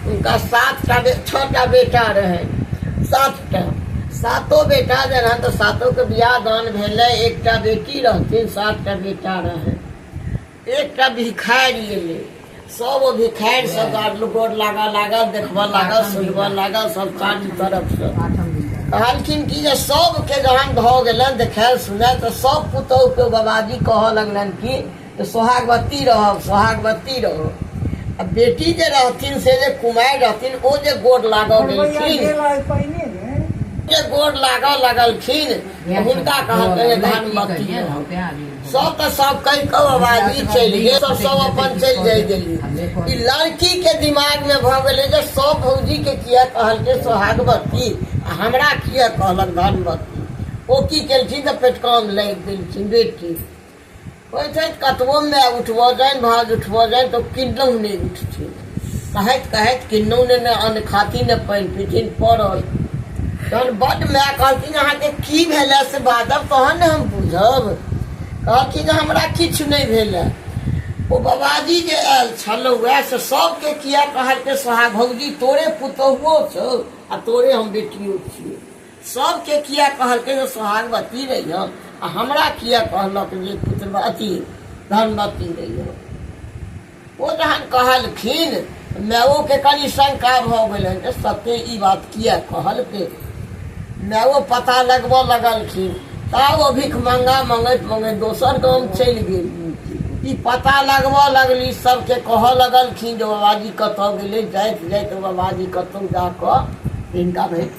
हुनका सातटा बे छओटा बेटा रहनि सातटा सातो बेटा जे रहनि तऽ सातोके बियाह दान भेलै एकटा बेटी रहथिन सातटा बेटा रहनि एकटा भिखारी एलै सब ओ भिखारी सब गाड़- गोड़ लागऽ लागल देखबऽ लागल सुनबऽ लागल सब चारू तरफसँ कहलखिन कि जे सबके जहन भऽ गेलनि देखायल सुनायल तऽ सब पुतोहु के बाबाजी कहऽ लगलनि कि तऽ सोहागवती रहब सोहागवती रहब आ बेटी जे रहथिन से जे कुमारि रहथिन ओ जे गोर लागऽ गेलखिन जे गोर लागऽ लगलखिन तऽ हुनका कहलकै धनमती सब तऽ सब कहि कऽ आवाज ई चलि गेल सब सब अपन चलि जाइ गेली ई लड़की के दिमाग में भऽ गेलै जे सब भौजी के किया कहलकै सोहागवती आ हमरा किया कहलक धनवती ओ की केलखिन तऽ पेटकान लागि गेलखिन बेटी कहै छै कतबो माय उठबऽ जानि भाज उठबऽ जानि तऽ किन्नौ नहि उठथिन कहैत कहैत किन्नौ ने ने अन्न खाती ने पानि पीथिन पड़ल तहन बड्ड माय कहलखिन अहाँके की भेलै से बाजब तहन ने हम बुझब कहलखिन हमरा किछु नहि भेलै ओ बाबाजी जे आयल छलहुँ वएह से सबके किया कहलकै सोहा भौजी तोरे पुतहुओ छौ आ तोरे हम बेटियो छियै सबके किया कहलकै जे सोहागवती रही हो आ हमरा किया कहलक जे पुत्र अथी धनवती रही हो ओ जहन कहलखिन माओ के कनि शंका भऽ गेल जे सत्य ई बात किया कहलकै माओ पता लगबऽ लगलखिन ता ओ भिख मंगा मंगैत मंगैत दोसर गाम चलि गेल ई पता लगबऽ लगली सबके कहऽ लगलखिन जे बाबाजी कतऽ गेलै जाइत जाइत बाबाजी कतहु जाकऽ हिनका भेट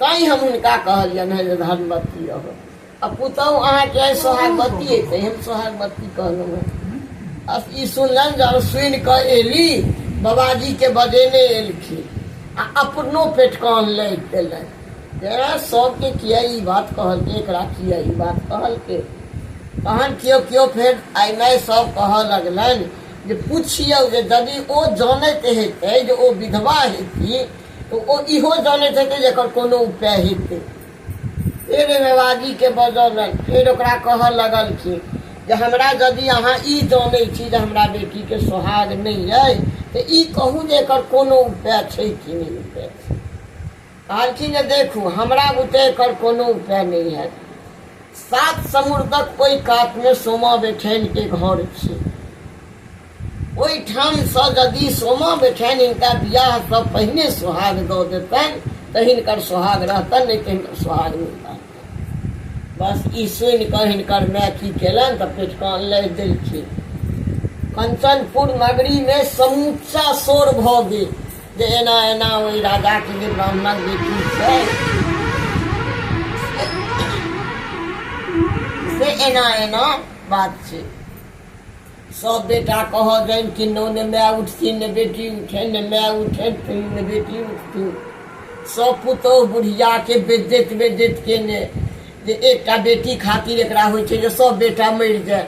तैँ हम हुनका कहलियनि हेँ जे धनवती रहब आ पुतहु अहाँके आइ सोहागवती अयतै हम सोहागवती कहलहुँ हेँ आ ई सुनलनि जब सुनि कऽ एली बाबाजीके बजेने एलखिन आ अपनो पेट कान लागि गेलनि जे सभके किया ई बात कहलकै एकरा किया ई बात कहलकै तहन केओ केओ फेर आइ नहि सभ कहऽ लगलनि जे पुछियौ जे यदि ओ जानैत हेतै जे ओ विधवा हेती तऽ ओ इहो जनैत हेतै जे एकर कोनो उपाय हेतै फेर एहिमे बाजीके बजौलनि फेर ओकरा कहऽ लगलखिन जे हमरा यदि अहाँ ई जनै छी जे हमरा बेटीके सोहाग नहि अइ तऽ ई कहू जे एकर कोनो उपाय छै कि नहि उपाय छै कहलखिन जे देखू हमरा बुते एकर कोनो उपाय नहि हैत सात समुद्रक ओहि कातमे सोमा बेठैनके घर छै ओहिठामसँ यदि सोमा बेठनि हिनका विवाहसँ पहिने सोहाग दऽ देतनि तऽ हिनकर सोहाग रहतनि नहि तऽ हिनकर सोहाग नहि रहतनि बस ई सुनि कऽ हिनकर माय की केलनि तऽ पेटके अनलथि देलखिन कंचनपुर नगरीमे समूचा शोर भऽ गेल जे एना एना ओहि राजाके जे ब्राह्मण बेटी छै से एना एना बात छै सब बेटा कह जन कि नो ने माय उठती ने बेटी उठे ने माय उठे फिर ने बेटी उठती सब पुतो बुढ़िया के बेदत बेदत के ने जे एकटा बेटी खातिर एकरा होइ छै जे सब बेटा मरि जाए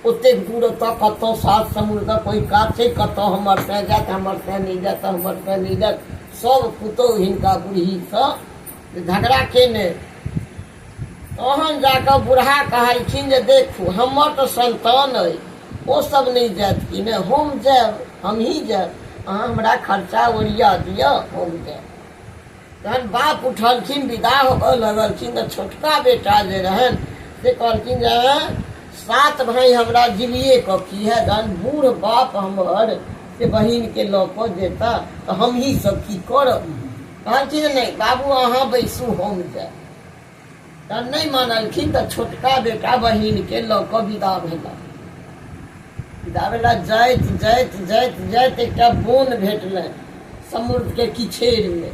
ओतेक दूर ओतऽ कतऽ सात समुद्रके कोइ कात छै कतऽ हमर तैँ जाएत हमर तैँ नहि जाएत हमर तैँ नहि जाएत सब पुतोहु हिनका बुढ़हीसँ झगड़ा केने तहन जा कऽ बुढ़ा कहलखिन जे देखू हमर तऽ संतान अइ ओ सब नहि जायत कि नहि हम जायब हमही जायब अहाँ हमरा खर्चा ओरिया दिअ हम जायब तहन बाप उठलखिन विदा होबऽ लगलखिन तऽ छोटका बेटा जे रहन से कहलखिन जे सात भाई हमरा जिलिए कऽ की है जहन बूढ़ बाप हमर से बहिनके लऽ कऽ जेता तऽ हमही सब की करब कहलखिन नहि बाबू अहाँ बैसू हम जायब तऽ नहि मानलखिन तऽ छोटका बेटा बहिनके लऽ कऽ विदा भेला विदा भेला जाइत जाइत जाइत जाइत एकटा बोन भेटलनि समुद्रके किछेरमे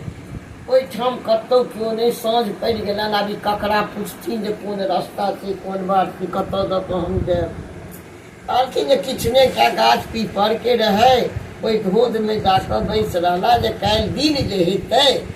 ओहिठाम कतहु केओ नहि साँझ पड़ि गेलनि आब ई ककरा पुछथिन जे कोन रस्ता छै कोन बात छै कतऽ दऽ कऽ हम जायब कहलखिन जे किछु नहि एकटा गाछ पीपरके रहै ओहि धोधमे जाकऽ बैस रहला जे काल्हि दिन जे हेतै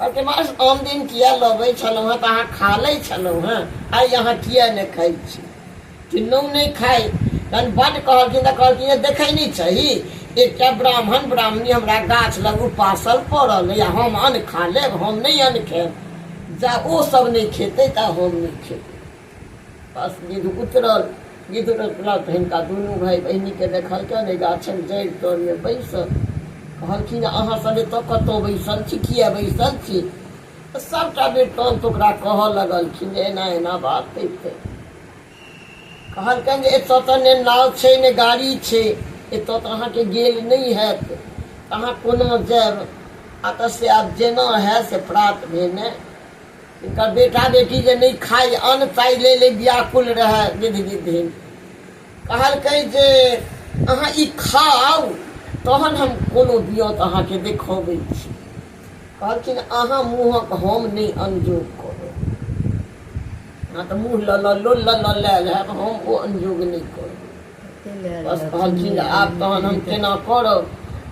अहाँके मास आन दिन किया लबै छलहुँ हँ तऽ अहाँ खा लै छलहुँ हँ आइ अहाँ किया नहि खाइ छी किन्नौ नहि खाइ तहन बड्ड कहलखिन तऽ कहलखिन देखै नहि छही एकटा ब्राह्मण ब्राह्मणी हमरा गाछ लग उपासल पड़ल या हम अन्न खा लेब हम नहि अन्न खायब जा ओ सब नहि खेतै तऽ हम नहि खेबै विध उतरल विध उतरला तऽ हिनका दुनू भाय बहिनीके देखलकनि एहि गाछक जड़ि तरमे बैसल कहलखिन अहाँ सभे तऽ कतहु बैसल छी किए बैसल छी सभटा वृत्तान्त ओकरा कहऽ लगलखिन जे एना एना बात होइ छै कहलकनि जे एतऽ तऽ ने नाव छै ने गाड़ी छै एतऽ तऽ अहाँके गेल नहि हैत अहाँ कोना जायब आ तऽ से आब जेना हए से प्रात भेने हिनकर बेटा-बेटी जे नहि खाइ अन्न ताहि लेल व्याकुल रहए विधि-विधिन। कहलकै जे अहाँ ई खाउ तहन हम कोनो बियौत अहाँकेँ देखौबै छी। कहलखिन अहाँ मुँहक हम नहि अनजोग करब। अहाँ तँ मुँह लऽ लऽ लोल लऽ लऽ लाएल हएब हम ओ अनजोग नहि करब। बस कहलखिन आब तहन हम केना करब।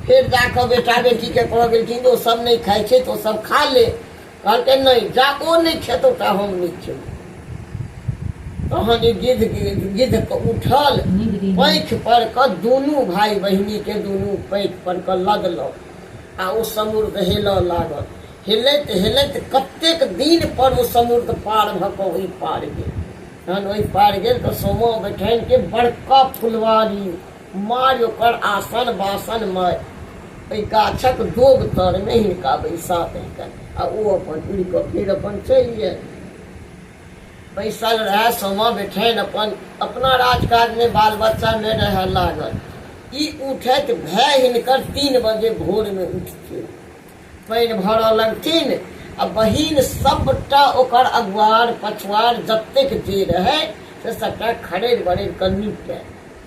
फेर जा कऽ बेटा-बेटीकेँ कहऽ गेलखिन ओ सभ नहि खाइ छथि ओ सभ खा ले। कहलकै नहि जाको नहि खेतौ ता हम नहि खेब तहन ई गिद्ध गिद्ध उठल पैख पर कऽ दुनू भाय बहिनी के दुनू पैख पर कऽ लदलक आ ओ समुद्र हेलऽ लागल हेलैत हेलैत कतेक दिन पर ओ समुद्र पार भऽ कऽ ओहि पार गेल तहन ओहि पार गेल तऽ सोमो बैठन के बड़का फुलवारी मारि ओकर आसन बासन मारि ओहि गाछक दोग तरमे हिनका बैसा देलकनि आ ओ अपन उड़ि कऽ फेर अपन चलि गेल बैसल रहए समा बेठनि अपन अपना राजकाजमे बाल बच्चामे रहए लागल ई उठैत भए हिनकर तीन बजे भोरमे उठथिन पानि भरऽ लगथिन आ बहिन सभटा ओकर अगुआर पछुआर जतेक जे रहै से सभटा खड़ेर बड़ेर कऽ निपटै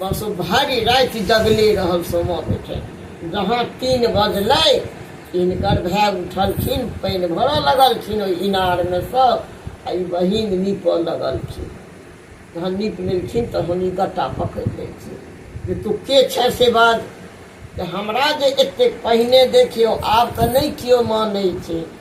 बस भरि राति जगले रहल सोमो उठे जहाँ तीन बजलै इनकर भाय उठलखिन पानि भरऽ लगलखिन ओहि इनारमे सँ आ ई बहिन नीपऽ लगलखिन जहन नीप लेलखिन तहन ई गट्टा पकड़ि लेलखिन जे तू के छै से बाज जे हमरा जे एतेक पहिने देखियौ आब तऽ नहि केओ मानै छै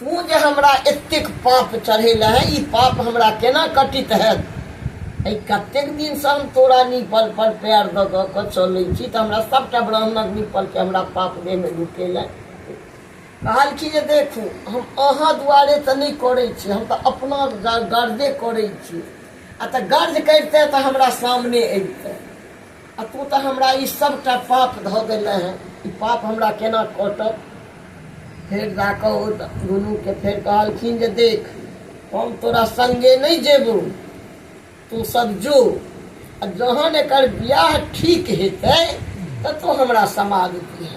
तू जे हमरा एतेक पाप चढ़ेल है ई पाप हमरा केना कटित है एहि कतेक दिनसँ हम तोरा निपल पर पैर दऽ दऽ कऽ चलै छी तऽ हमरा सभटा ब्राह्मणक निपलके हमरा पाप देहमे ढुकेल है कहलखिन जे देखू हम अहाँ दुआरे तऽ नहि करै छी हम तऽ अपना गर्दे करै छी आ तऽ गर्ज करिते तऽ हमरा सामने अबिते आ तू तऽ हमरा ई सभटा पाप धऽ देने है ई पाप हमरा केना कटत फेर जा कऽ ओ दुनूके फेर कहलखिन जे देख हम तोरा संगे नहि जेबू तू सब जो आ जहन एकर बियाह ठीक हेतै तऽ तू हमरा समाज दिहे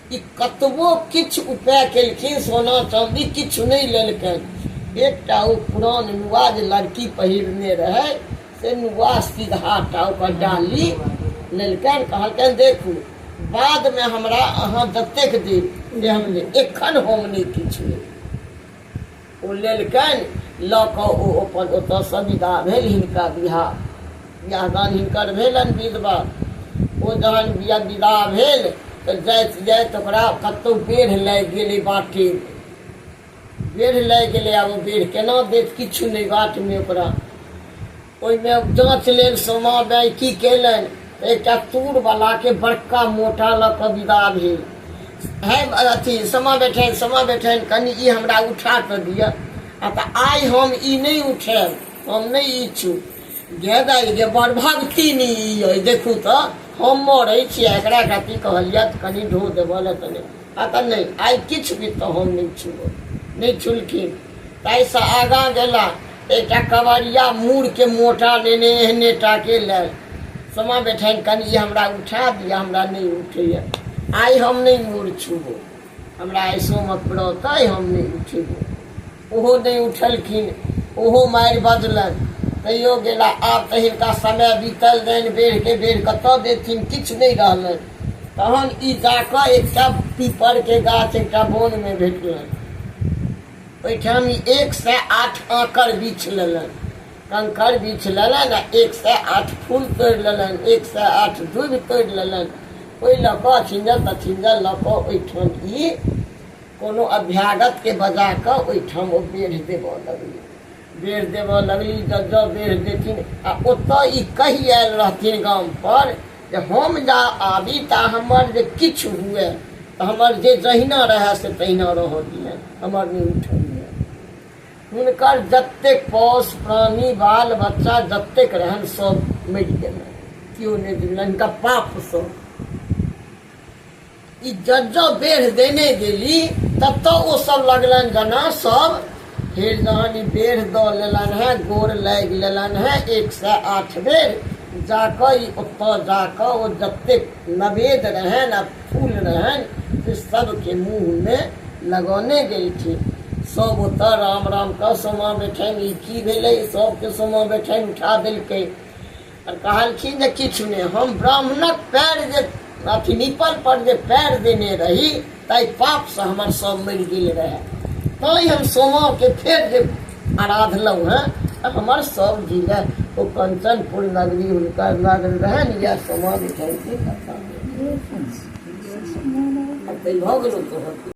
ई कतबो किछु उपाय केलखिन सोना चाँदी किछु नहि लेलकनि एकटा ओ पुरान नुआ जे लड़की पहिरने रहै से नुआ सीधाटा ओकर डाली लेलकनि कहलकनि देखू बादमे हमरा अहाँ जतेक देब से हम लेब एखन हम नहि किछु लेब ओ लेलकनि लऽ कऽ ओ अपन ओतऽसँ विदा भेल हिनका बियाह बियाह दान हिनकर भेलनि विधवा ओ जहन बिया विदा भेल तऽ जाइत जाइत ओकरा कतहु बेढ़ लागि गेलै बाटे बेढ़ लागि गेलै आब ओ बेढ़ केना देत किछु नहि बाटमे ओकरा ओहिमे जाँच लेल सोमा दाइ की केलनि तऽ एकटा तूरवलाके बड़का मोटा लऽ कऽ विदा भेल है अथी सोमा बैठनि सोमा बैठनि कनि ई हमरा उठा कऽ दिअ आ तऽ आइ हम ई नहि उठायब हम नहि ई छू गे दाइ गे बड़ भक्ति नहि ई अइ देखू तऽ हम मरै छी आ एकरा कथी कहलियै तऽ कनि ढो देबऽ लए तऽ नहि पता नहि आइ किछु भी तहन नहि छुअल नहि छुलखिन ताहिसँ आगाँ गेला एकटा कवरिया मूरके मोटा लेने एहने टाके लए समा बैठनि कनि ई हमरा उठा दिअ हमरा नहि उठैए आइ हम नहि मूर छुबो हमरा आइ सोमक व्रत अइ हम नहि उठेबो ओहो नहि उठलखिन ओहो मारि बजलनि तैयो गेला आब तऽ हिनका समय बीतल जानि बेढ़के बेढ़ कतऽ देथिन किछु नहि रहलनि तहन ई जाकऽ एकटा पीपरके गाछ एकटा बोनमे भेटलनि ओहिठाम ई एक सए आठ आँकर बीछ लेलनि कंकर बीछ लेलनि आ एक सए आठ फूल तोड़ि लेलनि एक सए आठ दूबि तोड़ि लेलनि ओहि लऽ कऽ अछिंजल तछिंजल लऽ कऽ ओहिठाम ई कोनो अभ्यागतके बजा कऽ ओहिठाम ओ बेढ़ देबऽ लगली बेढ़ देबऽ लगली जब जब बेढ़ देथिन आ ओतऽ ई कहि आयल रहथिन गामपर जे हम जा आबी ता हमर जे किछु हुए तऽ हमर जे जहिना रहए से तहिना रहऽ दिए हमर नहि उठैए हुनकर जतेक पौष प्राणी बाल बच्चा जतेक रहनि सभ मरि गेलनि केओ नहि दिलनि हिनका पापसँ ई जब जब बेढ़ देने गेली तब तब ओ सब लगलन गना सब फिर जहन ई बेढ़ दऽ लेलन है गोर लागि लेलन है एक सए आठ बेर जाकऽ ई ओतऽ जाकऽ ओ जतेक नवेद रहनि आ फूल रहनि से सबके मुँहमे लगौने गेलखिन सब ओतऽ राम राम कऽ सोमा बेठनि ई की भेलै सबके सोमा बेठनि उठा देलकै आर कहलखिन जे किछु नहि हम ब्राह्मणक पैर जे अथी निपल पर जे पैर देने रही ताहि पापसँ हमर सब मरि गेल रहए तैँ हम सोमाके फेर जे आराधलहुँ हेँ तऽ हमर सब जिला ओ कंचनपुर नगरी हुनकर नगर रहनि इएह सोमा बिठैती कथा ताहि भऽ गेलहुँ तोहर